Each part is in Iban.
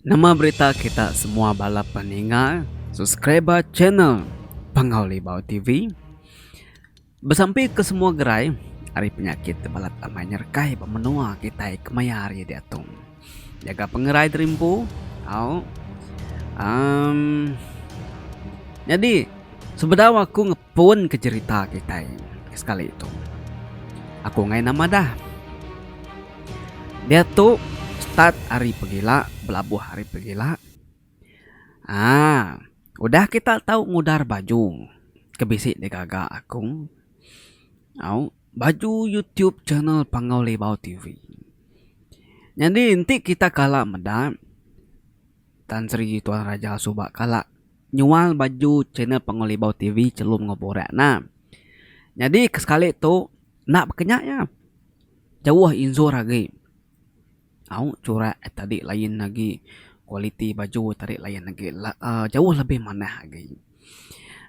Nama berita kita semua bala peninga subscriber channel Pangau Libau TV. Besampi ke semua gerai ari penyakit tebalat amai nyerekai ba menua kitai kemaya hari diatung. Nyaga pengerai terimpu au um, nyadi sebedau aku Pun ke jerita kitai ke sekali tu. Aku enggai nama dah. Diatu start ari pegila belabuh ari pegila. Aa udah kita tau ngudar baju ke bisi digaga aku au baju YouTube channel Panggau Libau TV. Nyadi enti kita kala meda Tan Sri Tuan Raja suba kala. Nyual baju channel Pengolibau TV chelum enggau borak ena. Nyadi ke sekali tu enda baka nya iya. Jauh injur agi. Au churak eh tadi lain agi, kualiti baju eh tadi lain agi. Jauh lebih manah agi.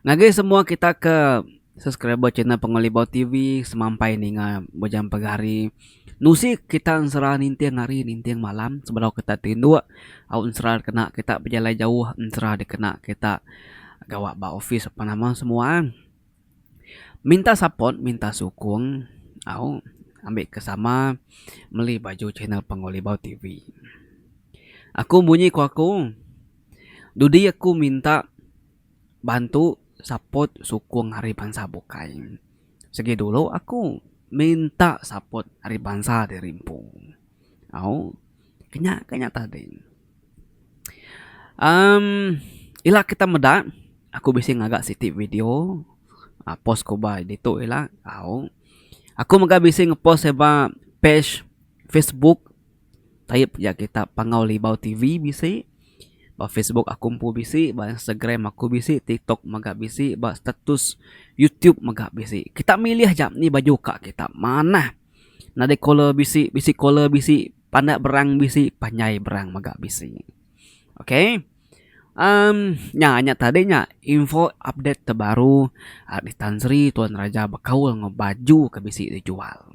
Ngagai semua kita ke. Subscriber channel Pengelibau TV semampai ninga bejam pagi hari. Nusi kita ensera ninting hari ninting malam sebedau kita ti indu au ensera dikena kita bejalai jauh ensera dikena kita gawa ba opis apan nama semua. Minta support minta sukung au ambi ke sama meli baju channel Pengelibau TV. Aku bunyi ku aku dudi aku minta. bantu support sukung ari bansa bukai. Sigi dulu aku minta support ari bansa ti rimpu. Au kinya ka nya tadi. Amm ila kita meda aku bisi ngaga siti video aaa post ku ba ditu ila au aku mega bisi ngepost seba page facebook. Taib ya kita pangau libau TV bisi ba Facebook aku empu bisi ba Instagram aku bisi TikTok mega bisi ba status YouTube mega bisi kita milih ja ni baju ka kita manah nadai caller bisi bisi caller bisi pandak berang bisi panjai berang mega bisi ok emm nya nya tadi nya info update terbaru ari Tan Sri Tuan Raja bekaul enggau baju ke bisi dijual.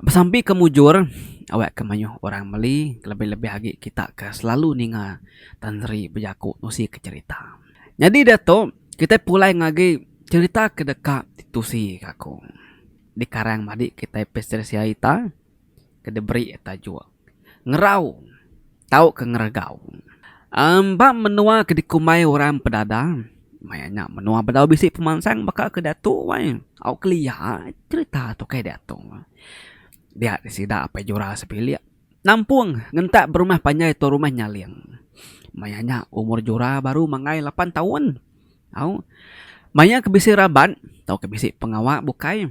Besampi ke mujur awak ke mayuh orang meli kelebih-lebih agi kita ke selalu ninga Tan Sri bejaku nusi ke cherita. Nyadi diatu kitai pulai ngagi cherita ke deka ditusi ka aku. Dikarang madi kitai pesteri sia ita ke diberi tajuk Ngerau tauka Ngeregau. Um Ba menua ke dikumbai orang Pedada, maya nya menua bedau bisi pemansang baka ke diatu wai. Au kelia cherita tukai diatu. Dia di sida apai jura sebilik nampung ngentak berumah panjai tu rumah nyaling. Maya nya umur jura baru manggai lapan taun. Au maya ke bisi raban tauka bisi pengawa bukai.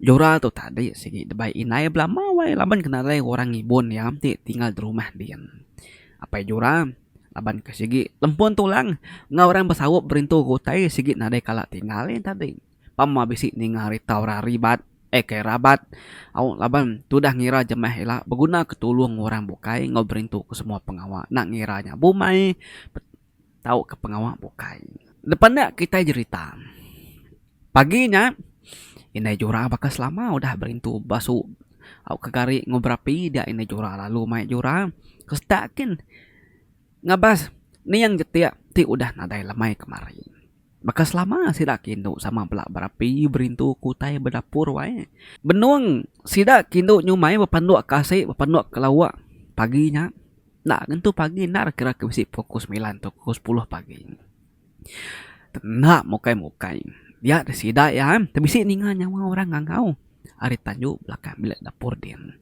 Joral tu tadi sigi debei indai belama wai laban kena alai orang ngibun iya ti tinggal di rumah din. Apai Joral laban ke sigi lempun tulang enggau orang besaup berintu ke utai sigi nadai kala tinggal iya tadi. Pa meh bisi ninga ari tau ra ribat eh kai rabat au laban tudah ngira jemah ila begunaka tulung orang bukai enggau berintu ke semua pengawa enda ngira nya bumai. Tauka pengawa bukai. Lepa enda kitai jerita. Pagi nya indai jura baka selama udah berintu basu au ke gari enggau berapi dia indai jura lalu mai jura ke setak kin ngabas niang jetik ti udah nadai lemai kemari. Baka selama sida ke indu sama bela berapi berintu ke utai bedapur wae. Benung sida ke indu nyumai bepanduk ke asi bepanduk ke lauk pagi nya. Enda ngentu pagi enda ra kira ke bisi pukul semilan tau pukul sepuluh pagi. Enda mukai mukai dia ti sida iya ti bisi ninga nyawa orang ngangau ari tanju belakang bilik dapur din.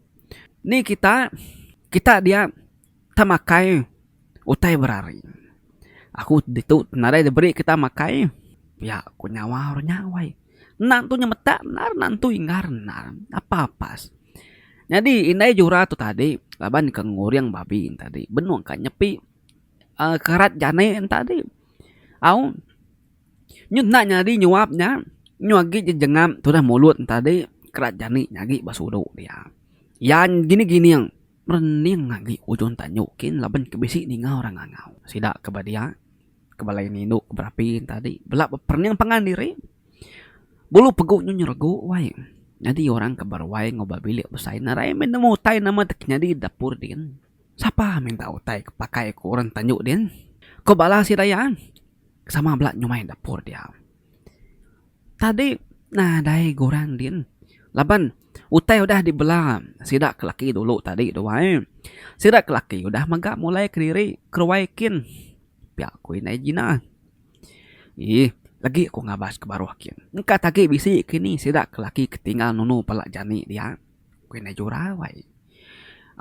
Ni kita kita dia kita makai utai berari. Aku ditu nadai diberi kita makai pia ku nyawa ru nya wai. Enda entu nyemetak enda enda entu inggar enda apa pas. Nyadi indai jura tu tadi laban ke nguring babi tadi benung ka nyepi aaa kerat jani en tadi au nyu enda nyadi nyuap nya nyu agi jejengam tudah mulut en tadi kerat jani nya agi ba sulu dia. Yan gining gining merening agi ujung tanyu kin laban ke bisi ninga orang ngangau sida ke ba dia. ke balai ni indu ke berapi tadi bela beperening pangan diri bulu pegu nyu nyeregu wai nyadi orang ke beruai enggau ba bilik besai narai meh nemu utai nama ti ke nyadi dapur din sapa minta utai ke pakai ku orang tanyu din ku bala sida iya sama bela nyumai dapur dia tadi nadai guran din laban utai udah dibela sida ke laki dulu tadi tu wai sida ke laki udah mega mulai kediri keruai kin. Pia ku indai Gina. Ih, lagi aku ngabas ke baruh kin. Engka tagi bisi ke ni sida ke laki ke tinggal nunu pala jani dia, ku indai Jurau ai.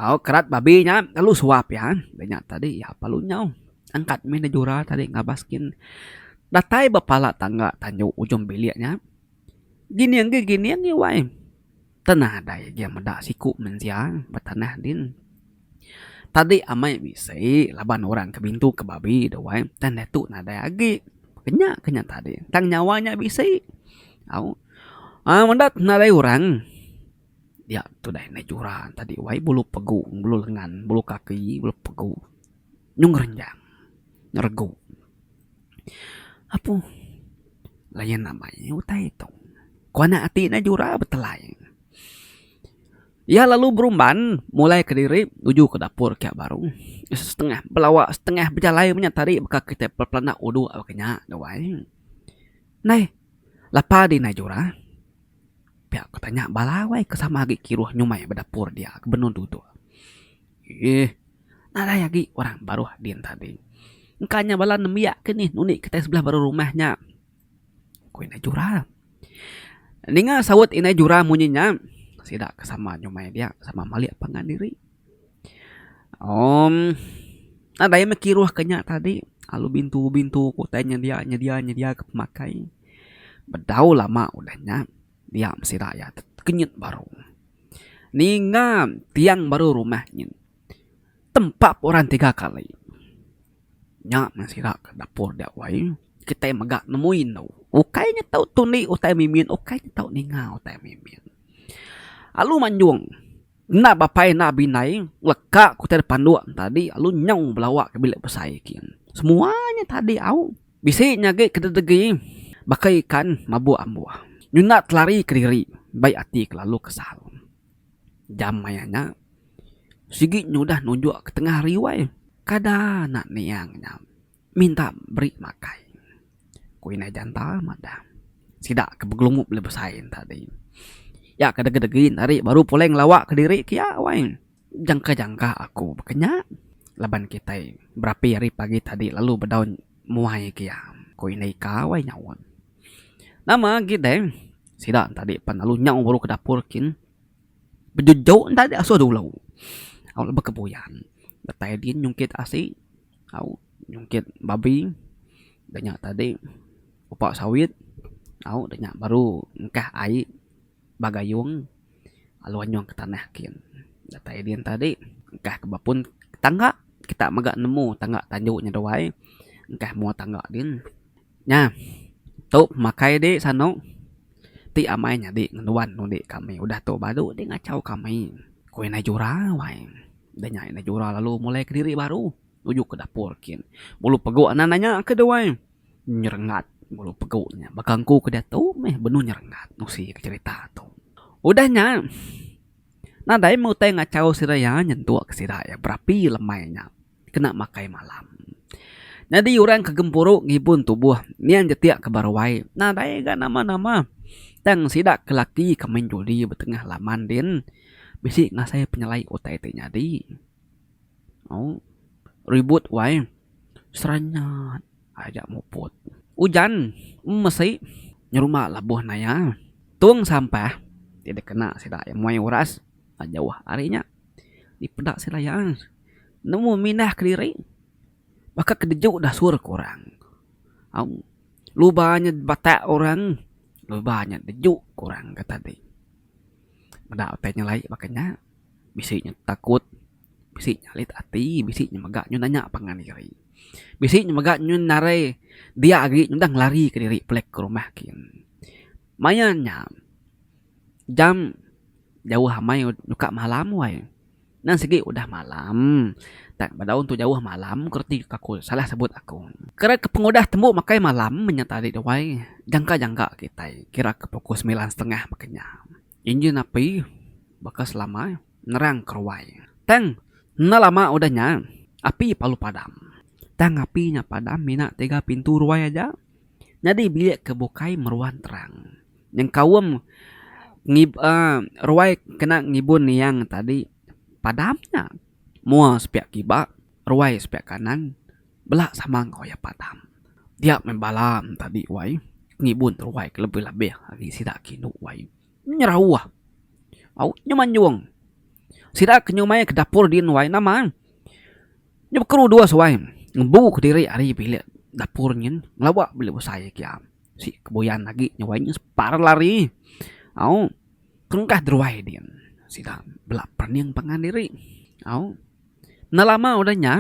Au, kerat babi nya lalu suap iya. Udah nya tadi iya pa lalu nyau. Angkat mih indai Jurau tadi ngabas kin. Datai ba pala tangga tandu ujung bilik nya, Gining gi, gining gi wai. Te nadai gia meda siku mensia ba tanah din. Tadi amai bisi laban orang ke bintu ke babi dah wai tang diatu nadai agi. Kenya ke nya tadi tang nyawa nya bisi. Au au meda te nadai orang dia tu dai nai jura tadi wai bulu pegu bulu lengan bulu kaki bulu pegu nyung renjang ngeregu apuh layan amai utai tu ku anak ati ne jura betelai iya lalu berumban mulai kediri nuju ke dapur ka baru setengah belawa setengah bejalai menya tadi baka kitai bepelanda udok lalu kenya duai nai lapa di nai jura pia ku tanya bala wai ke sama agi kiruh nyumai ba dapur dia ke benung dudok. Iih, nadai agi orang baruh din tadi. Engka nya bala nembiak ke nih nunik kitai sebelah baruh rumah nya, ku Indai Jura. Ninga saut Indai Jura munyi nya, sida ke sama nyumai dia sama malik pangan diri. Umm, nadai meh kiruh ke nya tadi lalu bintu-bintu ke utai nyedia-nyedia ke pemakai. Bedau lama udah nya, Nya meh sida iya tekenyit baru. Ninga tiang baru rumah nyin tempap orang tiga kali. Nya meh sida ke dapur dia wai kitai mega nemui inu. Ukai nya tau tundi utai mimin ukai nya tau ninga utai mimin. Alu manjung enda bapai enda bindai leka ku tadi panduk tadi alu nyau belawa ke bilik besai kin. Semua nya tadi au. Bisi nyagi kededegi baka ikan mabuk ambuh nyunda telari kediri bai ati ke lalu kesal. Jam maya nya sigi nya udah nunjuk ke tengah hari wai kada anak niang nya minta beri makai. Ku inai janta madah sida ke begelumuk beli besai nya tadi. Iya ke degedegi nya tadi baru pulai ngelawa kediri ke iya wai. Jangka-jangka aku baka nya laban kitai berapi ari pagi tadi lalu bedau muai ke iya, ku Indah Ika wai nyaut. Nama agi deh, sida entadi pan lalu nyau baru ke dapur kin bejejok entadi asuh dulu. Au leba ke puyan datai din nyungkit asi, au nyungkit babi da nya tadi upa sawit, au da nya baru engkah ai ba gayung lalu anyung ke tanah kin datai din tadi engkah ke bepun ke tangga kita mega nemu tangga tandu nya duai engkah mua tangga din nya tu pemakai di sano ti amai nyadi ngenuan undi kami udah tu baru di ngachau kami ku indai jura wai da nya indai jura lalu mulai kediri baru nuju ke dapur kin bulu pegu nan da nya ke duai. Nyerengat ngulu pegu nya. Baka engku ke diatu meh benung nyerengat nusi ke cherita tu. Udah nya, nadai meh utai ngachau sida iya nyentuk sida iya berapi lemai nya kena makai malam. Nyadi orang ke gempuru ngibun tubuh niang jeti ke baru ai nadai ga nama-nama tang sida ke laki ke main judi betengah laman din bisi ngasai penyelai utai ti nyadi. Au. Ribut wai. Seranyat aja muput. Ujan mesi nyerumba labuh naya. Tung sampah ti dikena sida iya muai uras ba jauh ari nya dipeda sida iya nemu mindah kediri baka ke deju dasur ku orang. Au. Luba nya batak orang, luba nya deju ku orang kata ti. Meda utai nyelai baka nya bisi nya takut. Bisi nyalit ati, bisi nya mega nyun nanya pangan diri. Bisi nya mega nyun narai dia agi nyudah ngelari ka diri pulik ka rumah kin. Maya nya jam jauh amai nyuka malam wai. Nan sigi udah malam tang bedau tu jauh malam ku reti ka ku salah sebut aku. Kira ke pengudah tembu makai malam menya tadi tu wai jangka jangka kitai kira ke pukul semilan setengah maka nya. Injin api baka selama. nerang keruai. Tang enda lama udah nya, api palu padam. Tang api nya padam mina tiga pintu ruai aja. Nyadi bilik ke bukai meruan terang. Nyengkaum ruai kena ngibun niang tadi padam nya. Mua sepiak kiba, ruai sepiak kanan bela sama enggau iya padam. Dia meh bala tadi wai ngibun ruai ke lebih-lebih agi sida ke indu wai. Nyerauh. Au nyu manjung. Sida ke nyumai ke dapur din wai nama. Nyu baka rudu suai ngembu kediri ari bilik dapur nyin ngelawa bilik besai agi am. Si ke buyan agi nyu wai nyin separ lari. Au tengah deruai din sida bela perening pangan diri. Au enda lama udah nya.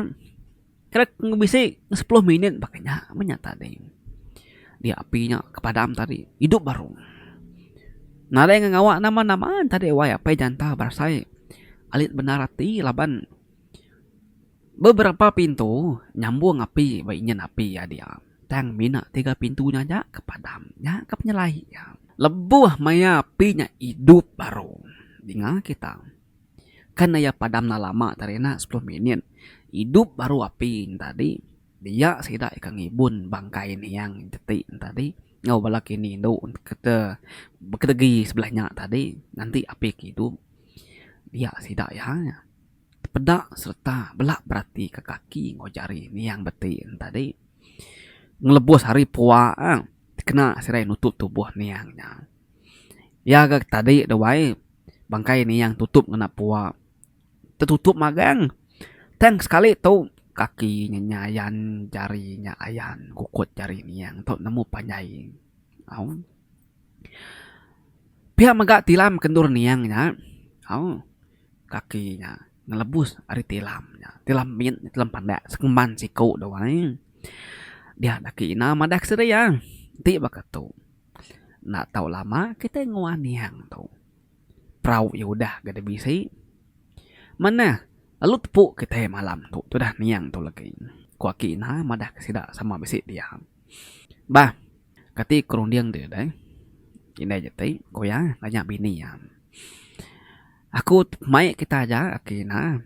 Kira ke bisi ke sepuluh minit baka nya meh nya tadi. Dia api nya ke padam tadi idup baru. Nadai ngan ngawa nama nama tadi wai apai janta berasai alit bendar ati laban beberapa pintu nyambung api ba enjin api iya dia tang mina tiga pintu nya aja ke padam. Nya ke penyelai iya. Lebuh maya api nya idup baru dinga kita. Kan iya padam enda lama tadi enda sepuluh minit idup baru api entadi dia sida ika ngibun bangkai niang jeti entadi enggau bala kini indu bekedegi sebelah nya tadi nganti api ke idup dia sida iya nya peda sereta bela beratika kaki enggau jari niang beti entadi ngelebus ari pua kena serai nutup tubuh niang nya. Iya ga tadi tu wai bangkai niang tutup ngena pua tetutup magang tang sekali tu kaki nya nyayan jari nya ayan kukut jari niang tu nemu panjai au pia mega tilam ke endur niang nya au kaki nya ngelebus ari tilam nya tilam mit tilam pandak sekumban siku tu wai dia enda ke ina madah ke sedia enti baka tu. Enda tau lama kitai nguah niang tu. Perau iya udah ga deh bisi. Manah lalu tepu kitai malam tu tudah niang tu legi, ku aki ina madah ke sida sama bisi pia. Bah, kati ke runding deh indai jeti, ku iya nanya bini iya. Aku mai kita aja aki na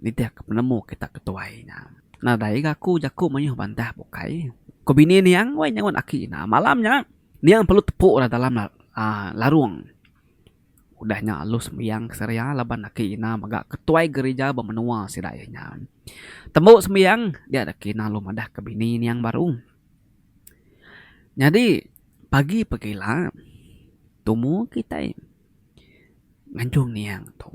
nitih ke penemu kita ke tuai nya. Nadai ga aku jaku mayuh bantah bukai. Ku bini niang wai nyauan aki na. Malam nya niang perlu tepu ra dalam uhh larung. Udah nya alu sembiang keseria laban aki ina mega ketuai gerija ba menua sida iya nya. Tembu sembiang dia aki ina lalu madah ke bini niang baru. Nyadi pagi pagila tumu kitai. Nganjung niang tu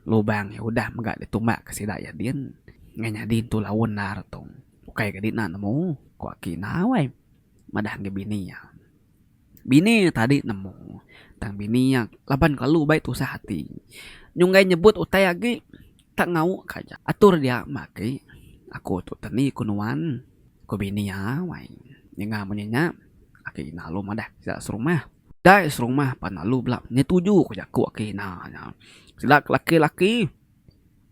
lubang iya udah mega ditumbak ke sida iya din ngan nyadi entu laun endar tu ukai ke dina nemu ku aki enda wai madah ngi bini iya. Bini iya tadi nemu tang bini iya laban kelalu baik tusah ati nyunggai nyebut utai agi tak ngau ka aja atur dia meh aki aku tu teni ku nuan ku bini iya wai ninga munyi nya aki enda lu madah sida serumah. Nadai serumah pan lalu bela menyetuju ko jaku ake ina nya. Sida ke laki-laki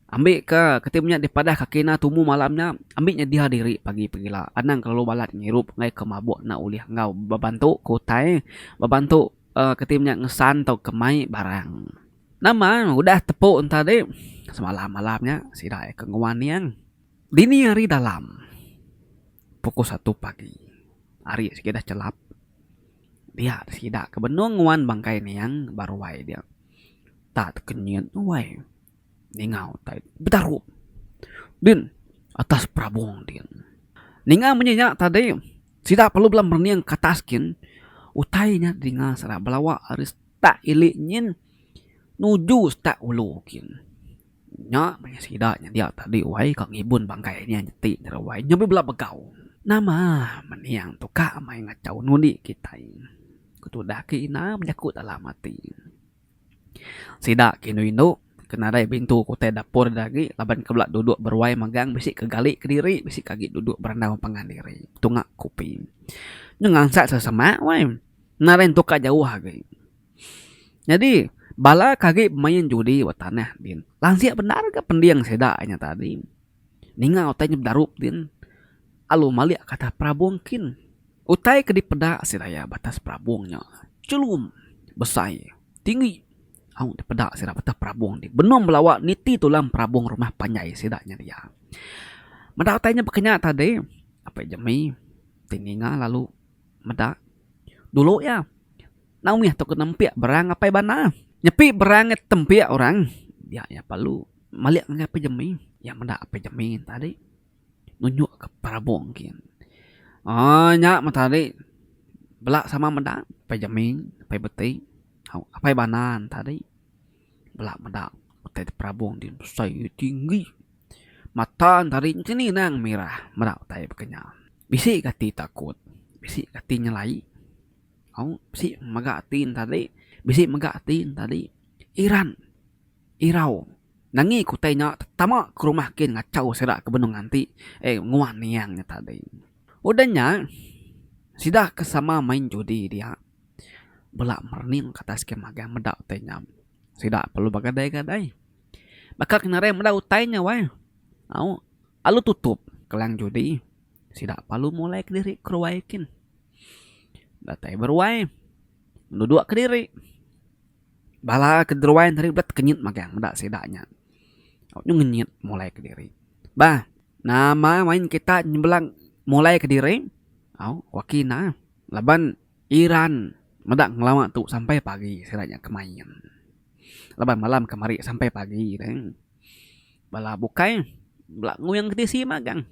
ambika kati inya dipadah ke ake ina tumu malam nya ambi nyedia diri pagi pengila anang kelalu balat ngirup ngai ke mabuk enda ulih enggau bebantu ke utai bebantu uhh kati inya ngesan tauka mai barang. Nama udah tepu enta adi semalam malam nya sida iya ke nguan iyang dini hari dalam pukul satu pagi ari sigi dah chelap. Pia sida ke benung nguan bangkai niang ba ruai dia. Tak tekenyit ruai ninga utai betarup din atas perabung din. Ninga munyi nya tadi sida perlu bela merening ke atas gin utai nya dinga sida belawa ari setak ili nyin nuju setak ulu gin. Nya meh sida nyendia tadi wai ka ngibun bangkai nya nyeti jera wai nya be bela begau. Nama mening tu ka mai ngachau ngundi kitai ku tudah ke ina bejaku dalam ati. Sida ke indu indu ke nadai bintu ke utai dapur ida agi laban ke bela duduk beruai megang bisi ke gali kediri bisi ke agi duduk berandau pangan diri betunga kopi. Nya ngansat sesemak wai nadai entu ka jauh agi. Nyadi, bala ke agi bemain judi ba tanah din, lanjik bendar ga pending sida inya tadi. Ninga utai inya bedarup din, alu malik ka atas perabung kin. Utai ke dipeda sida iya ba atas perabung nya, chelum, besai, tinggi. Au dipeda sida ba atas perabung ti, benung bala awak niti tulang perabung rumah panjai sida nya dia. Meda utai nya baka nya tadi, Apai Jemie ti ninga lalu meda, dulu iya. Nau mih tok nempiak berang apai bandar. Nyepi berang ngai tempiak orang dia nya perlu malik ngagai apai jemi iya meda apai jemi tadi nunjuk ka perabung gin uhh nya mah tadi bela sama meda apai jemi apai beti tau apai bandar ne tadi bela meda utai ti perabung ti besai tinggi mata ne tadi nya seninang mirah meda utai baka nya bisi gati takut bisi gati nyelai. Au bisi mega ati ne tadi bisi mega ati ne tadi iran irau nangi ke utai nya tama ke rumah kin ngachau sida ke benung nganti eh nguan niang nya tadi udah nya sida ke sama main judi dia bela merening ke atas kemah ga meda utai nya sida perlu begadai-gadai baka ke nadai meda utai nya weh au alu tutup kelang judi sida perlu mulai kediri ke ruai kin. Datai beruai nuduk kediri bala keruai tadi pula tekenyit magang meda sida nya tau nyu ngenyit mulai kediri bah nama main kita nyembilang mulai kediri au wak ina laban iran meda ngelama tu sampai pagi sida nya ke main laban malam kemari sampai pagi deh bala bukai bela nguing ke tisi magang.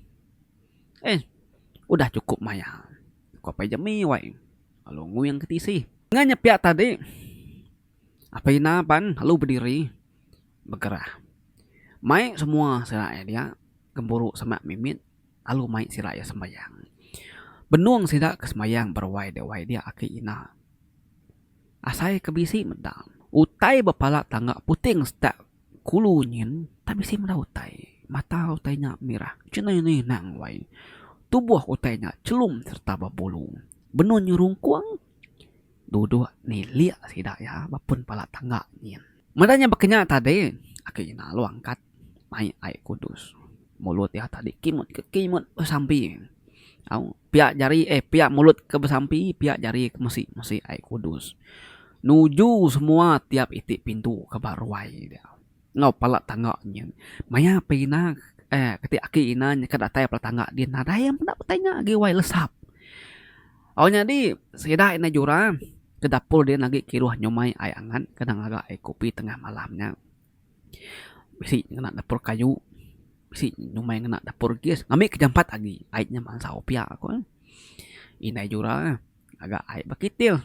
Eh, udah chukup maya, ku Apai Jemi wai lalu nguing ke tisi. Enggau nya pia tadi, Apai Ina pan lalu bediri begerah. Mai semua sira iya dia gempuru semak mimit lalu mai sira iya sembayang. Benung sida ke sembayang beruai dek wai dia aki Ina. Asai ke bisi meda, utai bepala tangga puting setak Kulu nyin tak bisi meda utai. Mata utai nya mirah chenai ni nang wai. Tubuh utai nya chelum sereta bebulu. Benun nyerungkung duduk nilik sida iya ba pun pala tangga nyin. Meda nya baka nya tadi, aku Ina lalu angkat mai ai kudus. Mulut iya tadi kimut ke kimut besampi. Au, pia jari eh pia mulut ke besampi, pia jari ke mesi mesi ai kudus. Nuju semua tiap iti pintu ke ba ruai dia enggau pala tangga nyin. Maya pe ina eh keti aki ina nyeka datai pala tangga di nadai iya meda petai nya agi wai lesap. Au nyadi sida ina jura ke dapur di agi kiruh nyumai ai angat kena ngaga ai kopi tengah malam nya. Bisi ngena dapur kayu, bisi nyumai ngena dapur gas. Ngambi ke jampat agi ai nya mansau pia ku eh. Indai jura eh ngaga ai ba kitil.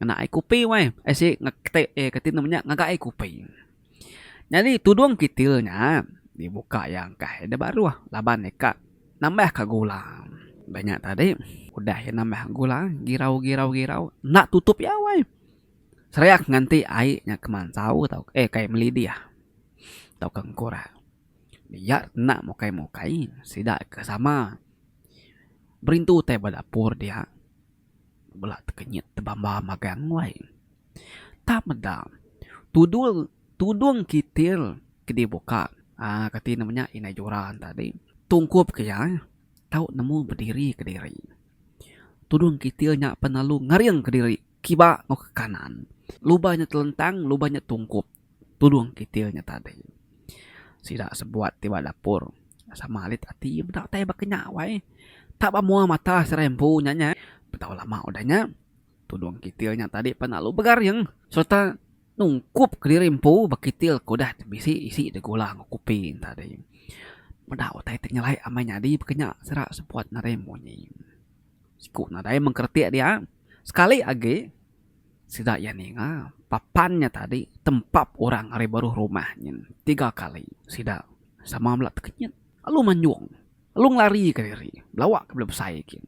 Ngena ai kupi weh. Ai si kitai eh kati nama nya ngaga ai kupi. Nyadi tudung kitil nya dibuka iya engkah iya da baruh laban iya ka nambah ka gula. Ba nya tadi udah iya nambah gula girau girau girau enda tutup iya weh. Seriak nganti ai nya kemansau tau eh kai melidih tau ka engkur iya kena mukai mukai sida ke sama berintu tai ba dapur dia bela tekenyit tebamba magang wai tang meda tudung tudung kitil ke dibuka aaa kati nama nya indai joran tadi tungkup ke iya tau nemu bediri kediri tudung kitil nya pelalu ngering kediri Kiba enggau ke kanan. Lubang nya telentang, lubang nya tungkup. Tudung kitil nya tadi. Sida sebuat ti ba dapur sama alit ati meda utai ba kinya wai. Tak ba mua mata serai empu nya nya. Betau lama udah nya, tudung kitil nya tadi pan lalu begaring sereta nungkup kediri empu ba kitil ke udah bisi isi deh gula enggau kopi nya tadi. Meda utai ti nyelai amai nyadi ba kinya sida sebuat nadai munyi. Siku nadai mengkeretik dia. Sekali agi sida iya ninga papan nya tadi tempap orang ari baruh rumah nyin tiga kali. Sida sama mela tekenyit lalu manjung lalu ngelarika diri belawa ke bela besai kin.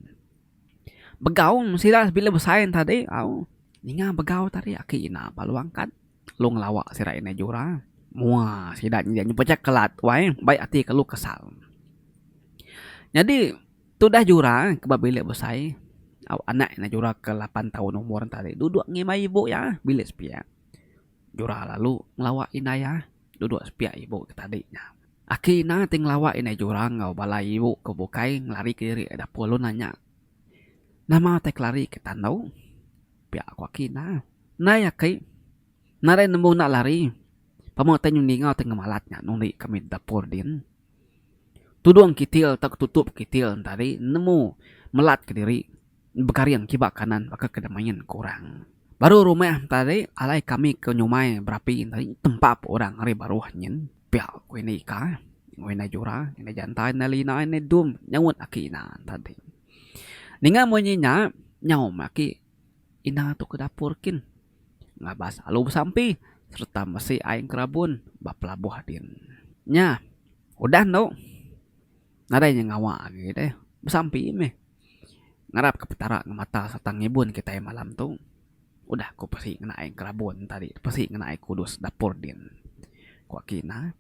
Begau sida bela besai nya tadi au ninga begau tadi aki ina balu angkat lalu ngelawa sida indai jura. Mua sida nyadi nyepecak kelat wai mbai ati kelu kesal. Nyadi. Tudah Jura ke ba bilik besai au anak iya Jura ke lapan taun umur enta tadi duduk ngimbai ibu iya bilik sepiak. Jura lalu ngelawa indai iya duduk sepiak ibu ke tadi nya. Aki ina ti ngelawa indai Jura enggau bala ibu ke bukai ngelarika diri iya dapur lalu nanya, Nama utai ke lari ke tandau? Pia ku aki ina, Nai aki, nadai nembu enda lari. Pama utai nyundi enggau utai ngemalat nya nundi kami dapur din. Tudung kitil tauka tutup kitil entari nemu melat ke diri begaring kiba kanan baka ke main ke orang. Baru rumah entari alai kami ke nyumai berapi entari tempa pun orang ari baruh nyin pia ku indai ika, ku indai jura, indai janta, indai lina, indai dum nyaut aki ina entadi. Ninga munyi nya nyau meh aki. Ina tu ke dapur kin ngabas alu besampi sereta mesi ai engerabun ba pelabuh din. Nya udah endo nadai inya ngawa agi deh besampi meh. Ngarap ke petara ngemata sereta ngibun kitai malam tu. Udah ku pesi ngena ai engerabun tadi pesi ngena ai kudus dapur din ku aki ina.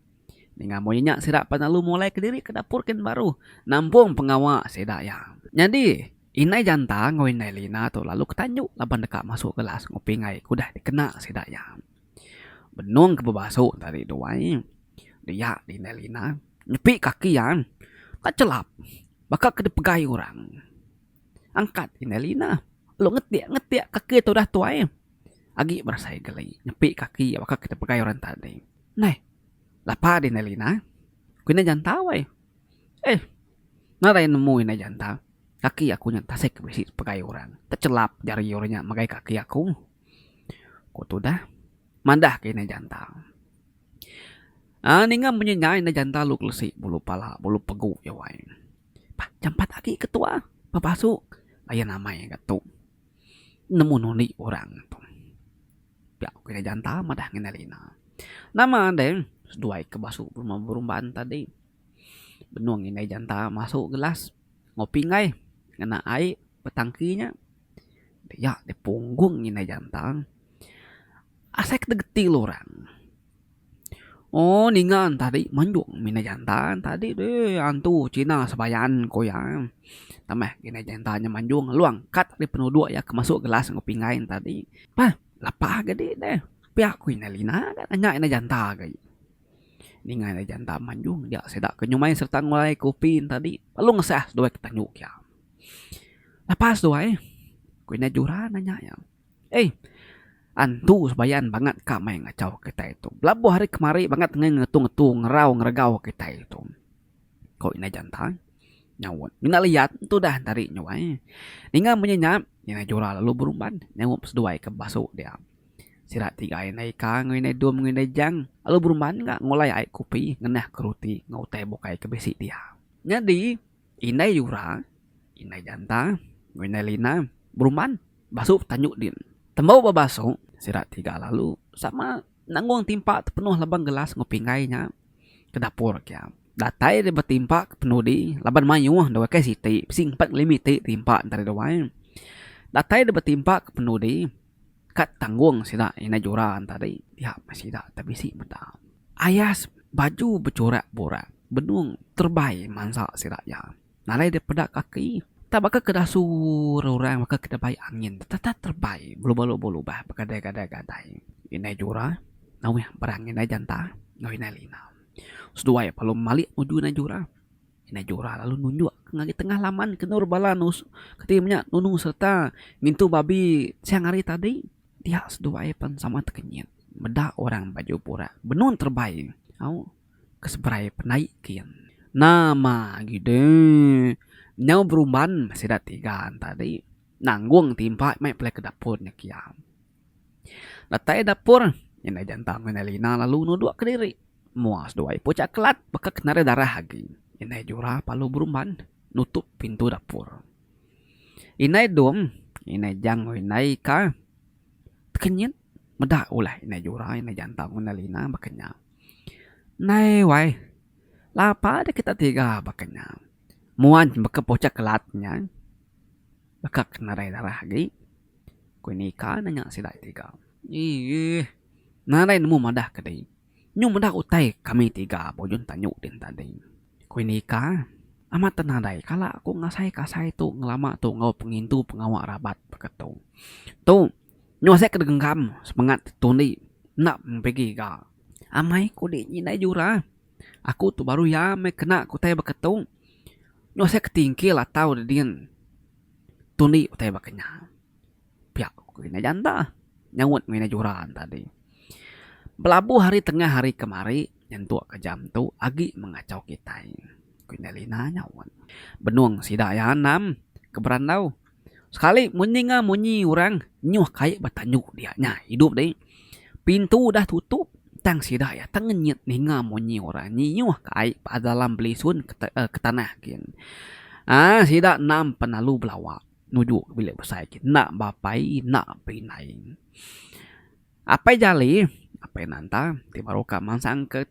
Ninga moh inya sida pan alu molai kediri ke dapur kin baru nampung pengawa sida iya. Nyadi. Indai Janta enggau Indai Lina tu lalu ke tanju laban deka masuk kelas enggau pinggai ke udah dikena sida iya. Benung ke bebasu enti ari dua ai, dia Indai Lina nyepi kaki iya ka chelap baka ke dipegai orang. Angkat Indai Lina lalu ngetik ngetik kaki tu udah tuai agi berasai geli nyepi kaki iya baka ke dipegai orang tadi. Neh lapa Indai Lina ku Indai Janta weh. Eh. Nadai nemu indai jantan, kaki aku nya tasik bisi sepegai orang, techelap jari orang nya ngagai kaki aku. Ku tudah madah ke indai jantan. Aaa ninga munyi nya indai jantan lu kelesi bulu pala bulu pegu iya wai. Bah jampat agi ke tua bebasu layan amai ga tu. Nemu nundi orang tu. Pia ku indai jantan madah nginda rina. Nama deh seduai ke basu berumban tadi. Benung indai janta masuk gelas ngopi enggai ngena ai betangki nya dia deh punggung indai janta asai ke geting orang ooh ninga entah ri menjong meh indai janta tadi deh antu cina sebayan ku iya tambah indai janta nya manjong long kat ari penuduk iya ke masuk gelas ngopi enggai nya tadi pah lapah ke dik deh pia ku indai lina nya indai janta ke. Ninga iya janda manjung dia sida ke nyumai sereta ngulai kopi tadi lalu ngesah seduai ke tandu iya. Lepas seduai ku ina Jura nanya iya, Ai, antu sebayan bangat ka mai ngachau kitai tu. Belabuh hari kemari bangat enggai ngetu ngetu ngerau ngeregau kitai tu. Ku ina janda nyaut, Mina liat tu dah tadi nyuai. Ninga munyi nya, ina Jura lalu berumban nyaup seduai ke basu dia. Sida ti gain indai ika enggau indai dom enggau indai jang lalu berumban ga ngulai ai kopi ngenah ke roti enggau utai bukai ke bisi dia. Nyadi indai yura, indai janta enggau indai lina berumban basu tanju din. Tembu ba basu sida ti ga lalu sama nanggung timpa ti penuh laban gelas enggau pinggai nya ke dapur kia. Datai deh betimpa ke penudi laban mayuh deh bukai siti bisi empat ngelimiti timpa ntah deh duai. Datai deh betimpa ke penudi. Ka tanggung sida indai jura entadi dia meh sida te bisi meda ayas baju becurak burak benung terebai mansa sida iya. Nalai dia peda kaki tak baka ke dasu orang baka ke debai angin tetap terebai beluba belubah begadai gadai gadai. Indai jura nauh barang indai jantah enggau indai lina. Seduai pelu malik nuju indai jura. Indai Jora lalu nunjuk ke ngagai tengah laman ke endur bala keti menya nunu sereta ngintu babi siang hari tadi dia seduai pen sama tekenyit meda orang baju burak benun terebai au ke seberai penai kin. Nama agi de nyau berumban sida tiga tadi nanggung timpa meh pelai ke dapur nya kiang. Datai dapur, indai jantang ngan indai lina lalu nuduk kediri. Mua seduai ipu caklat baka ke nadai darah agi. Indai jura palu berumban nutup pintu dapur. Indai dung, indai jang enggau indai ika tekenyit meda ulah indai jura, indai jantang enggau indai lina baka nya. Nai wai, lapa deh kita tiga baka nya. Mua baka ipu caklat nya, baka ke nadai darah agi. Ku Nika nanya sida ti tiga. Eeh. Nadai nemu madah ke dei. Nyau meda utai kami tiga bujun tanyu din tadi. Ku Nika. Amat teh nadai kala aku ngasai kasai tu ngelama tu enggau pengintu pengawa rabat baka tu. Tu nyau asai ke degenggam sepengat tundi enda mempigi ga. Amai ku di nyi indai jura. Aku tu baru iya meh kena ke utai baka tu. Nyau asai ke tingkil atau dedin. Tundi utai baka nya. Pia ku kitai janda nyaut ngena juran tadi. Belabuh ari tengah ari kemari nyentuk ka jam tu agi mengachau kitai ku indai Lina nyaut. Benung sida iya anam ke berandau sekali munyi enggau munyi orang nyuh kai ba tandu dia nya idup dih. Pintu udah tutup, tang sida iya tengenyit ninga munyi orang nyiyuh ka ai pada alam belisun ke tanah gin. Aaa sida endang pan lalu belawa nuju ka bilik besai gin enda ba apai enda ba indai. Apai jali apai nanta ti baru ka mansang ke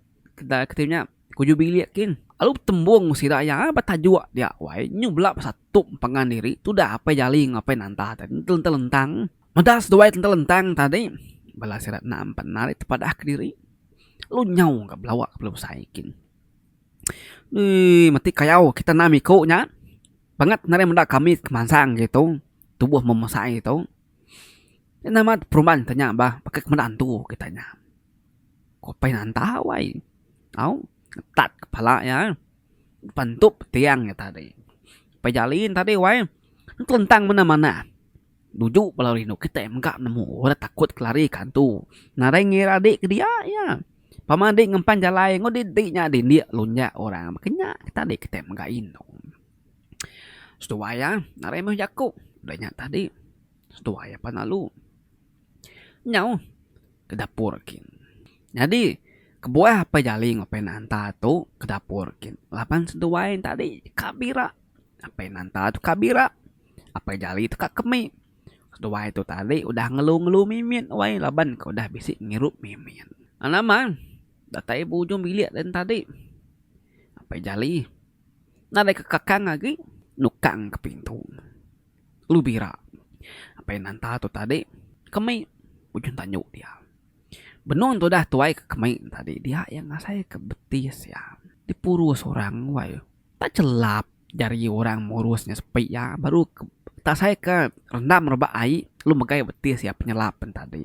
ti nya kuju bilik gin lalu betembung ngan sida iya betajuk dia wai nyu bela besatup empangan diri tudah apai jali enggau apai nanta tadi telentang-lentang. Meda seduai tentelentang tadi, bala sida enda bendar ari tepadah kediri. Lalu nyau ka belawa ka belubsai kin. Ui, meti kayau kita enam iku nya. Bangat nadai meda kami kemansang agi tu. Tubuh membesai tu. Enda amat peruban kita nya bah. Baka ke meda antu kita nya. Ku Apai Nanta wai. Au, ngetat kepala iya. Pentup tiang iya tadi. Apai Jalin tadi wai. Telentang manah-manah. Nuju bala rindu kitai mega nemu orang takut kelari ke antu. Nadai ngira adi ke dia iya. Pama adi ngempan jalai enggau didi nya dindik lunjak orang baka nya tadi kitai mega indu. Seduai iya nadai meh jaku udah nya tadi seduai iya pan lalu nyau ke dapur kin. Nyadi kebuah apai jali enggau apai nanta tu ke dapur kin laban seduai tadi ka bira. Apai nanta tu ka bira. Apai Jali tu ka kemi. Seduai tu tadi udah ngelu-ngelu mimit wai laban ke udah bisi ngirup mimit. Anang Man, datai ba ujung bilik lain tadi. Apai Jali nadai ke kakang agi nukang ke pintu. Lu bira. Apai Nanta tu tadi kemi ujung tanju dia. Benung tudah tuai ke kemi tadi dia iya ngasaika beti sia dipuru seorang wai. Tak chelap jari orang murus nya sepi iya baru tak saika rendam rebak ai lalu megai betis iya penyelap pen tadi.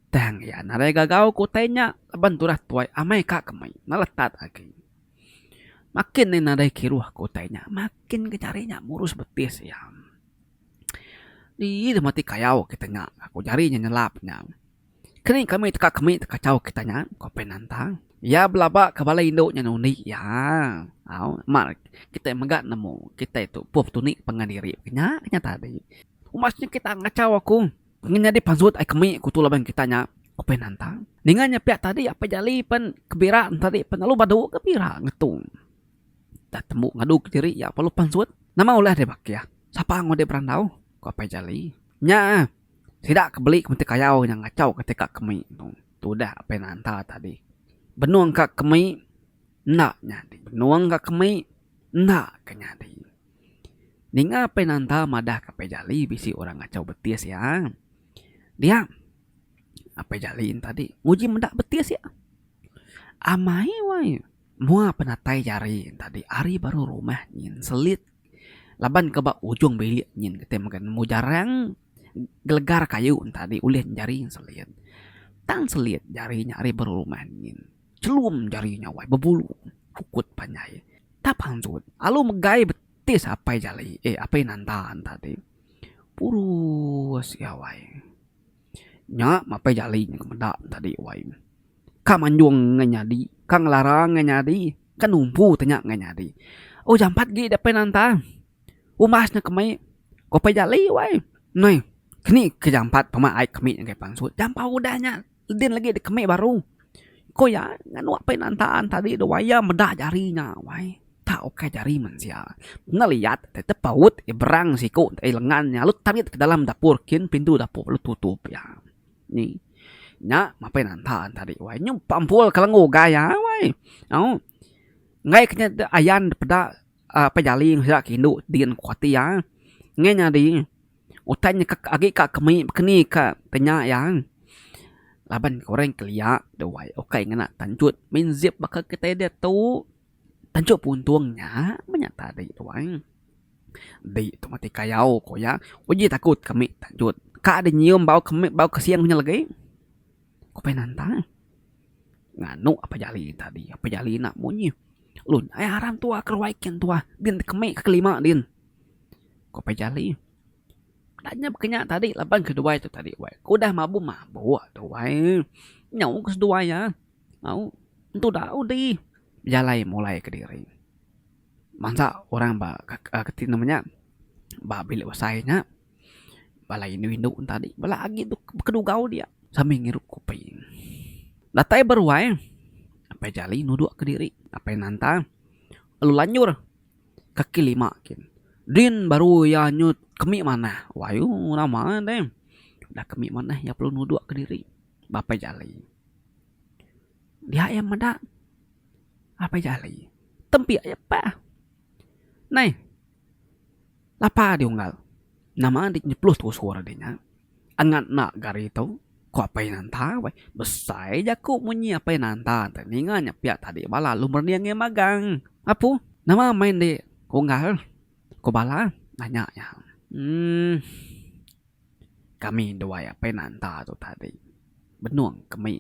Tang iya nadai gagau ke utai nya laban tudah tuai amai ka ke mei na letat agi. Makin ne nadai kiruh ke utai nya makin ke jari nya murus betis iya. Ii deh mati kayau ke tengah aku jari nya nyelap nya. Keni kami teka kemi tekachau kita nya, ko Penanta. Iya belaba ke balai indu nya nundi iya. Au, mar kitai mega nemu kitai tu puh tunik pangan diri ke nya ke nya tadi. Uma siti kita ngachau aku ngan nyadi pansut ai kemi ku tu laban kita nya, ko Penanta. Ninga nya pia tadi apai Jali pen kebira ne tadi pen lalu badu ke bira ngetu. Udah tembu ngadu ke diri iya lalu pansut. Nama ulah deh bakih? Sapa ngau deh berandau? ko apai Jali. Nya. Sida ke beli kemeti kayau nya ngachau ke tega kemi tu. Tu udah apai nanta tadi. Benung ka kemi enda nyadi. Benung ka kemi enda ke nyadi. Ninga apai nanta madah ke apai jali bisi orang ngachau betis iya. Dia apai jali ne tadi nguji meda betis iya. Amai wai mua penatai jari ne tadi ari baru rumah nyin selit Laban ke ba ujung bilik nyin kitai mega nemu jarang gelegar kayu tadi ulih jari selit. Tang selit jari nya ari berumah nyin. Chelum jari nya wai bebulu ukut panjai. Tap pansut alu megai betis apai jali eh apai nanta tadi. Purus iya wai. Nya mapai jali nya ke meda ne tadi wai. Ka manjung ngan nyadi, ka ngelara ngan nyadi, ka numpu tanya ngan nyadi. Oh jampat gee dep nanta. Umbas ne kemei ko pei jali wai. Noi keni ke jampat pema ai kemi ngagai pansut. Jampat udah nya din legi dikemei baru. Ko iya nganu apai nanta tadi wai iya meda jari nya wai. Tau ukai jari mensia. Bendar liat deh tepaut iya berang siku deh lengan iya lalu tamit ke dalam dapur kin pintu dapur lalu tutup iya. Ni nya mapai nanta tadi wai nyu pampul ke lengu ugai iya wai. Au enggai ke nya ayan peda apai jaling sida ke indu din ku ati iya ngei nyadi utai nya ka agi ka kemi keni ka tenya iya laban ke orang kelia deh wai ukai ngena tanchut main zip baka kitai diatu. Tajuk puntung nya menya tadi tuan. Di tu mati kayau ku iya. Uji takut kami tanjut. Ka deh nyium bau kemit bau kesing nya legi. Ku Pia Nantang. Nganu apai jali tadi. Apai jali enda munyi. Lu nya ai aram tuah ke ruai kin tuah. Din kemit ke kelima din. Ku apai jali. Enda nyah bekenya tadi laban keduai tu tadi wai. Ku udah mabuk mabuk tu wai. Nyau ke seduai iya. Au entu da udi bejalai mulai kediri bansa orang ba kati nama nya ba bilik besai nya bala indu indu ne tadi bala agi tu bekedugau dia sambil ngirup kopi datai beruai apai jali nuduk kediri apai nanta lalu lanjur kaki lima kin din baru iya nyut kemi manah wayuh nama deh dah kemi manah iya perlu nuduk kediri. Bapa Jali. Dia iya meda Bapa Jali. Tempik aja pah. Nai. Lapa adi unggal. Nama adi nyeplos tusur adi nya. Angat enda ga ari tu. Ku Apai Nanta weh. Besai jaku munyi Apai Nanta te. Ninga nya piak tadi bala lu merding ange magang. Apu, nama meh indi unggal? Ku bala nanya iya. Uhh. Kami duai apai nanta tu tadi benung ke mei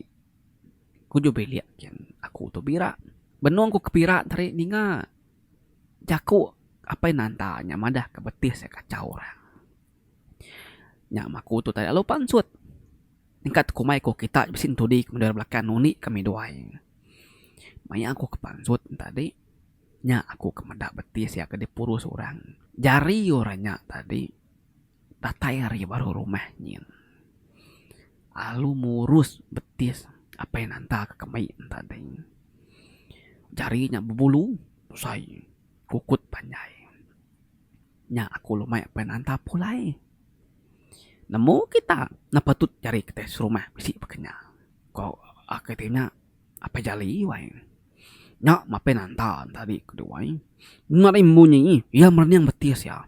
kujur bilik kin aku tu bira. Benung ku ke bira tadi ninga jaku apai nanta nya madah ke betih sia kachau orang. Nya mah aku tu tadi lalu pansut nyingkat ku kumai ku kita bisi entudi meda ira belakang unik kami duai. Maya aku ke pansut ne tadi nya aku ke meda betih sia ke dipurus orang. Jari orang nya tadi. Datai ari baruh rumah nyin. Alu murus betis apai nanta ke kemai tadi. Jari nya bebulu besai kukut panjai. Nya aku lumai apai nanta pulai. Nemu kita ne patut nyadi kita serumah bisi baka nya. Ko ake ti nya apai jali wai. Nya mapai nanta tadi ke duai. Nadai munyi iya merening betis iya.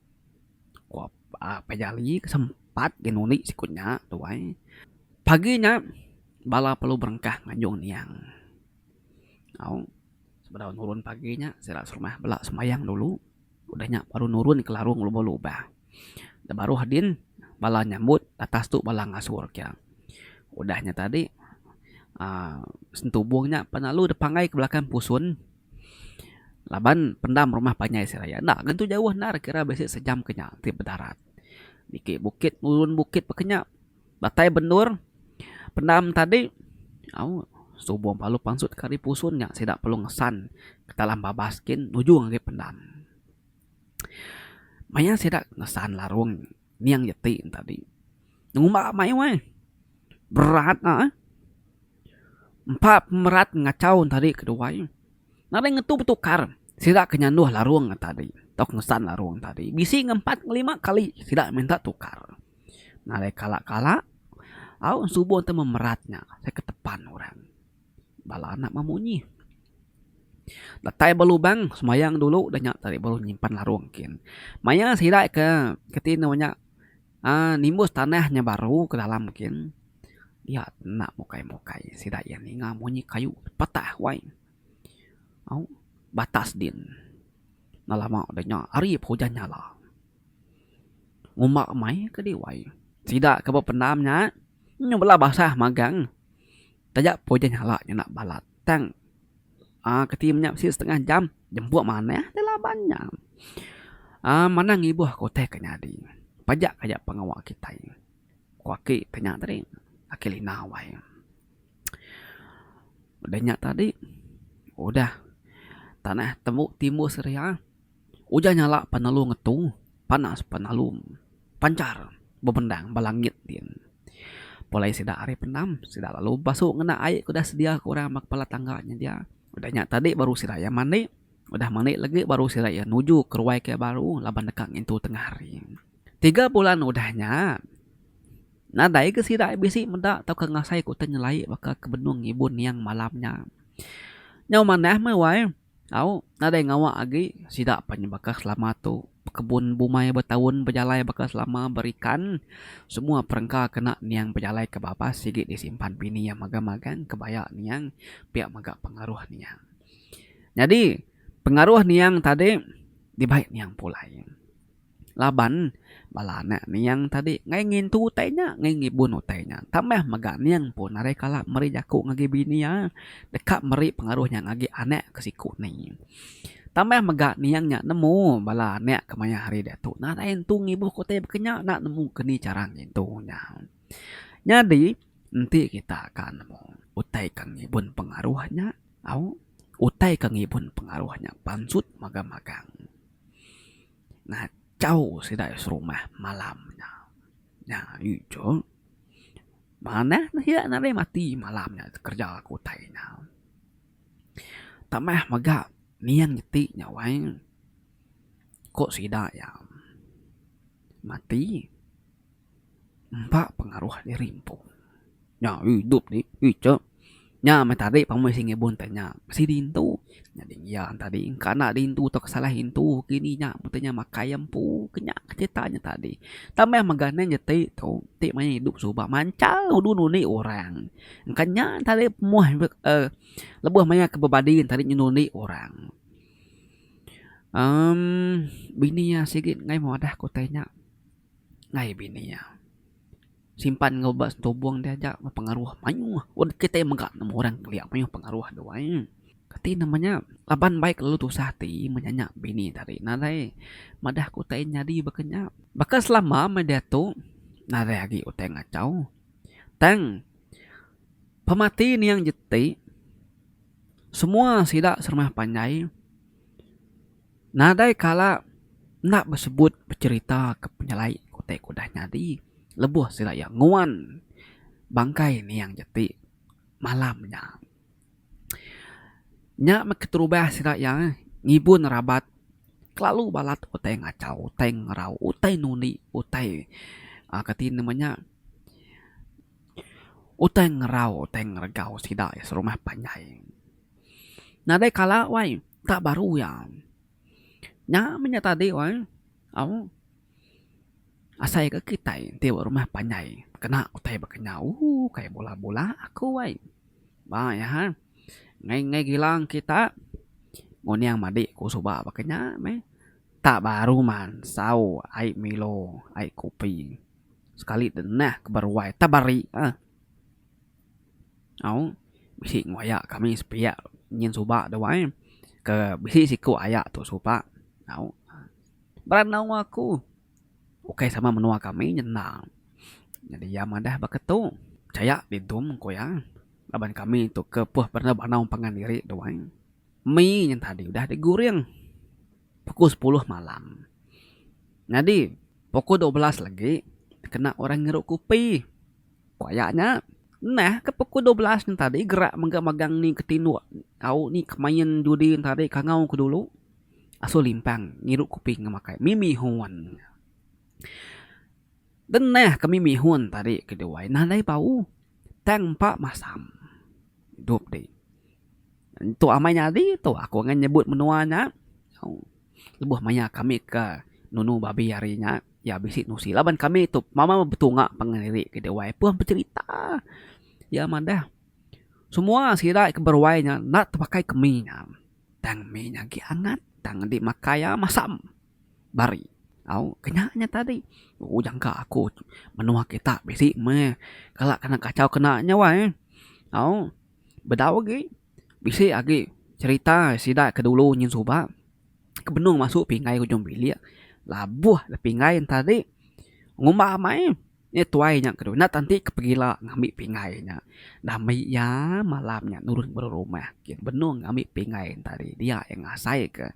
Ko Apai Jali ke sempat ke ngundi siku nya tuai. Pagi nya bala perlu berengkah ngajung niang. Au sebedau nurun pagi nya sida serumah bela sembahyang dulu udah nya baru nurun ke larung ngelubur lubah. Dah baruh adin bala nyambut atas tu bala ngasur ke. Udah nya tadi aaa sentubung nya pan lalu dipanggai ke belakang pusun. Laban pendam rumah panjai seraya enda ngentu jauh endar kira bisi sejam ke nya ti bedarat. Niki bukit nurun bukit peka nya datai bendur pendam tadi au subo lalu pansut ke ari pusun nya sida perlu ngesan ke talam babas gin nujung agi pendam. Maya sida ngesan larung. Niang ja ti entadi. Ngumba mayuh ai. Berat nya ai. Empa pemerat ngachau entadi ke duai. Nadai ngetu betukar sida ke nyanduh larung entadi tau ke ngesan larung entadi. Bisi ngan empat ngan lima kali sida minta tukar. Nadai kala kala au subo te memerat nya. Ke tepan orang. Bala anak memunyi. Datai ba lubang semayang dulu dah nya tadi baru nyimpan larung kin. Maya sida ke keti anu nya aaa nimbus tanah nya baru ke dalam kin dia enda mukai mukai sida iya ninga munyi kayu patah wai au batas din enda lama dah nya hari pun ujan nyala. Uma mei kadi wai sida ke bependam nya nyu bala basah magang Taja pun iya nyala ngena bala tank. Aaa keti menya bisi setengah jam jemput manah ti laban nya. Aaa manah ngibuh ke utai ke nyadi. Pajak ka iya pengawa kitai. Ku aki ti nya tadi. Aki Lina wai. Udah nya tadi udah tanah tembu timbus ria. Ujan nyalak penelu ngetu, panas penelu panchar bebendang ba langit din. Pulai sida ari pendam, sida lalu bebasu ngena ai ke udah sedia ke orang ba kepala tangga nyedia. Udah nya tadi baru sida iya mandi, udah mandi legi baru sida iya nuju ke ruai ke baru laban deka ngintu tengah hari. Tiga bulan udah nya, nadai ke sida bisi meda tauka ngasai ke utai nyelai baka ke benung ngibun niang malam nya. Nyau manah meh wai. Au, nadai ngawa agi sida pan baka selama tu. Pekebun bumai betaun bejalai baka selama berikan. Semua perengka kena niang bejalai ke babas sigi disimpan bini iya magang-magang kebaya niang pia mega pengaruh niang. Nyadi pengaruh niang tadi dibai niang pulai. Laban, bala anak niang tadi enggai ngintu utai nya, enggai ngibun utai nya. Tambah mega niang pun arai kala meri jaku ngagai bini iya deka meri pengaruh nya ngagai anak ke siku ni. Tambah mega niang nya nemu bala anak ke mayuh hari diatu nadai nentu ngibuhka utai baka nya enda nemu keni chara ngintu nya. Nyadi, enti kita ka nemu utai ke ngibun pengaruh nya, au, utai ke ngibun pengaruh nya pansut magang-magang. ngachau sida iya serumah malam nya. Nya ayu icuk manah neh iya nadai mati malam nya kerja ku utai nya. Tambah mega niang iti nya wai ku sida iya mati. Empa pengaruh diri empu. Nya idup ti icek. Nya meh tadi pemoi seh ngibun te nya. Mesti diintu. Nyadi iya nya tadi engka enda diintu tauka salah intu ke ini nya mete nya makai iya empu. Ke nya ke cerita nya tadi. Tang meh mega nen jeti tu ti maya idup suba manchal nudu ngundi orang. Engka nya tadi pemuah uhh lebuh maya ke bebadi tadi nyundi ngundi orang. uhh bini iya sigi ngemadah ku te nya. ngai bini iya. Simpan enggau ba setubung dia aja pengaruh mayuh. Un kitai mega nemu orang kelia mayuh pengaruh dia wai. Kati nama nya laban bai kelalu tusah ati menya nya bini tadi nadai madah ke utai nyadi baka nya. Baka selama meh diatu nadai agi utai ngachau. Tang pemati niang jeti semua sida serumah panjai. Nadai kala enda besebut becherita ke penyelai ke utai ke udah nyadi lebuh sida iya nguan bangkai niang jati malam nya. Nya meh keterubah sida iya ngibun rabat kelalu balat utai ngachau, utai ngerau, utai nundi, utai uhh kati nama nya utai ngerau, utai ngeregau sida iya serumah panjai. Nadai kala wai tak baru iya. Nya meh nya tadi wai au asai ke kitai ti ba rumah panjai kena utai ba kenyau ooh kai bula bula aku ai. Ba iya ha ngai ngai gilang kita nguning madi ku suba ba kinya meh tak baru man sau ai milo ai kopi sekali deh neh ke beruai teberi eh. Au, bisi enggau aya kami sepiak nyin suba tu ai. Ke bisi siku aya tu suba. Au. Berandau aku. Ukai sama menua kami nyendang. Nyadi iya madah baka tu. Pechaya didum ku iya. Laban kami tu ke puh berandau-berandau pangan diri tu ai. Mi nyin tadi udah diguring pukul sepuluh malam. Nyadi pukul dua belas lagi kena orang ngirup kupi. Paya nya, nah ke pukul dua belas nya tadi gerak mega magang ni ke tinduk au ni ke main judi nya tadi kangau ke dulu asu limpang ngirup kopi enggau makai mi mihun. Deng neh ke mi mihun tadi ke diwai nadai bau tang empa masam idup ti. Tu amai nyadi tu aku ngan nyebut menua nya. Lebuh maya kami ke nunu babi hari nya, iya bisi nusi laban kami tu mama betunga pangan diri ke diwai pun becerita. Iya madah, Semua sida ke beruai nya enda tepakai ke mi nya. Tang mi nya agi angat. Tang enti makai iya masam bari. Au, kena nya tadi. Uu jangka aku menua kita bisi meh kala kena kachau kena nya wai. Au, bedau agi. Bisi agi cherita sida ke dulu nyin suba ke benung masuk pinggai ujung bilik labuh le pinggai enta di ngumba amai nya tuai nya ke dulu enda tanti ke pegila ngambi pinggai nya dah mei iya malam nya nurun baru rumah benung ngambi pinggai enta di dia ngasai ke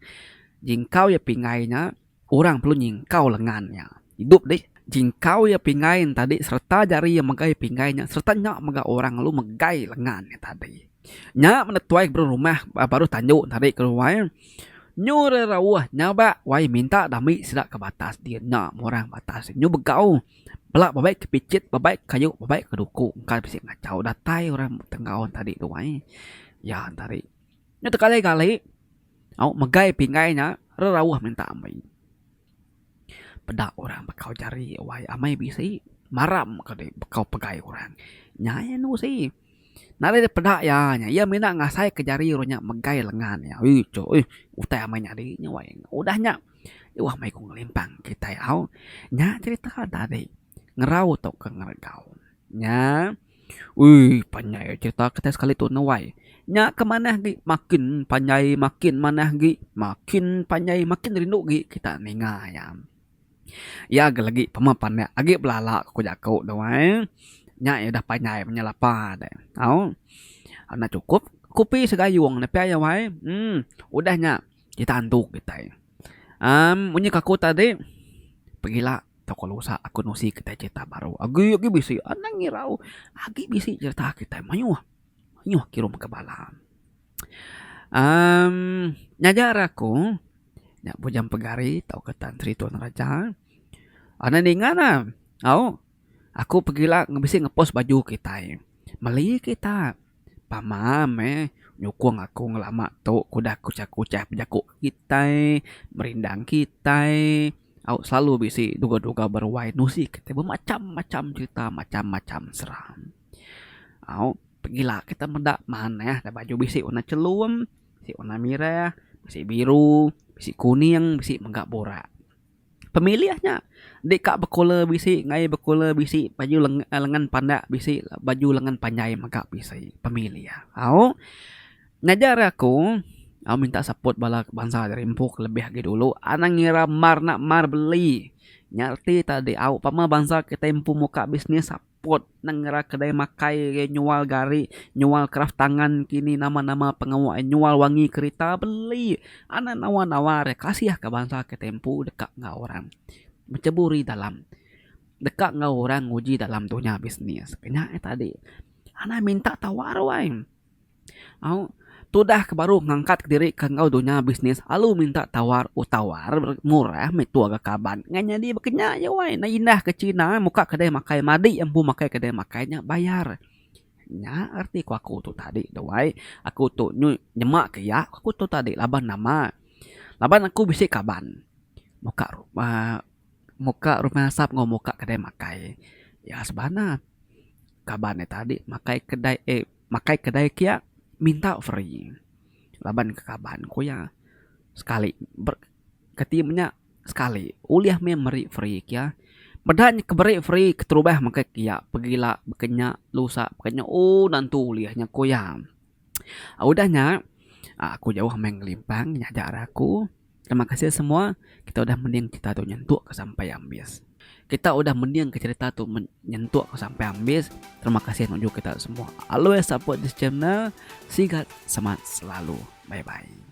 jingkau iya pinggai nya. Orang perlu nyingkau lengan nya. Idup dih, jingkau iya pinggai nya tadi sereta jari iya megai pinggai nya sereta nya mega orang lalu megai lengan nya tadi. Nya meda tuai ke baruh rumah ba baruh tandu nya tadi ke ruai nyu rai rauh nyaba wai minta dami sida ke batas din nya meh orang batas nyu begau bela bebai ke pichit bebai ke kayu bebai ke duku engka bisi ngachau datai orang tenggau tadi ruai iya nya tadi. Nya tegali gali. Au megai pinggai nya rerauh minta ambi. Peda orang bekau jari wai amai bisi maram ka deh bekau pegai orang. Nya iya anu si. Nadai deh peda iya nya. Iya mina ngasai ke jari orang nya megai lengan iya. Ih cuk ih utai amai nyadi nya wai. Udah nya udah nya udah mai ku ngelimpang kitai au. Nya cerita tadi. ngerau tauka ngeregau. Nya uii panjai ai cerita kitai sekali tu nuai. Nya ke manah agi makin panjai makin manah agi makin panjai makin rindu agi kita ninga iya. Iya agi lagi pemeh pandak agi belala ku jaku nuai. Nya iya udah panjai menya lapa deh tau. Enda chukup kopi segayung ne pia iya wai. Em udah nya kita andu kitai. Um munyi kaku tadi pengila toko lusa aku nusi kitai cerita baru agi agi bisi anang irau agi bisi cerita kitai mayuh mayuh kirum ka bala um ngajar aku nya bujang pegari tauka tan Sri Tun Raja enda ninga ne au. Aku pegila bisi ngepost baju kitai. Meli kita. Pama meh nyukung aku ngelama tu ku udah kuchah kuchah bejaku kitai, berindang kitai. Au selalu bisi duga duga beruai nusi kitai bemacham macham cherita macham macham serang. Au pegila kita meda manah da baju bisi warna chelum, bisi warna mirah, bisi biru, bisi kuning, bisi mega burak. Pemilih nya deka bekula bisi ngai bekula bisi baju lengan pandak bisi baju lengan panjai mega bisi pemilih au ngajar aku au minta support bala bansa ari empu ke lebih agi dulu anang ira mar enda mar beli nya reti tadi au pama bansa kitai empu muka business. Port nengera kedai makai agi nyual gari nyual kraf tangan kini nama nama pengawa ai nyual wangi kerita beli anak nawa nawa re kasih ka bansa ke tempu deka enggau orang becheburi dalam deka enggau orang nguji dalam dunya bisnis ke nya tadi anang minta tau arwai. Au, tudah ke baru ngangkatka diri ke enggau dunya bisnis alu minta tawar utawar murah meh tuah ga kaban ngan nyadi baka nya aja wai neh indah ke china muka kedai makai madi empu makai kedai makai nya bayar. Nya arti ku aku tu tadi tu wai. Aku tu nyu nyema ke iya ku aku tu tadi laban nama laban aku bisi kaban muka uhh muka rumah asap enggau muka kedai makai iya sebana kaban nya tadi makai kedai eh. makai kedai kia minta free laban ke kaban ku iya sekali ber keti menya sekali ulih meh meri free kia meda nya ke beri free keterubah makai kia pegila pekenya lusa pekenya ooh nentu ulih nya ku iya. Udah nya aku jauh meh ngelimpang nyaja aku. Terima kasih semua kita udah mending cerita tu nyentuk ke sampai ambis. Kita udah mending ke cerita tu nyentuk ke sampai ambis. Terima kasih nuju kita semua. Always support this channel. Sigat semangat selalu. Bye bye.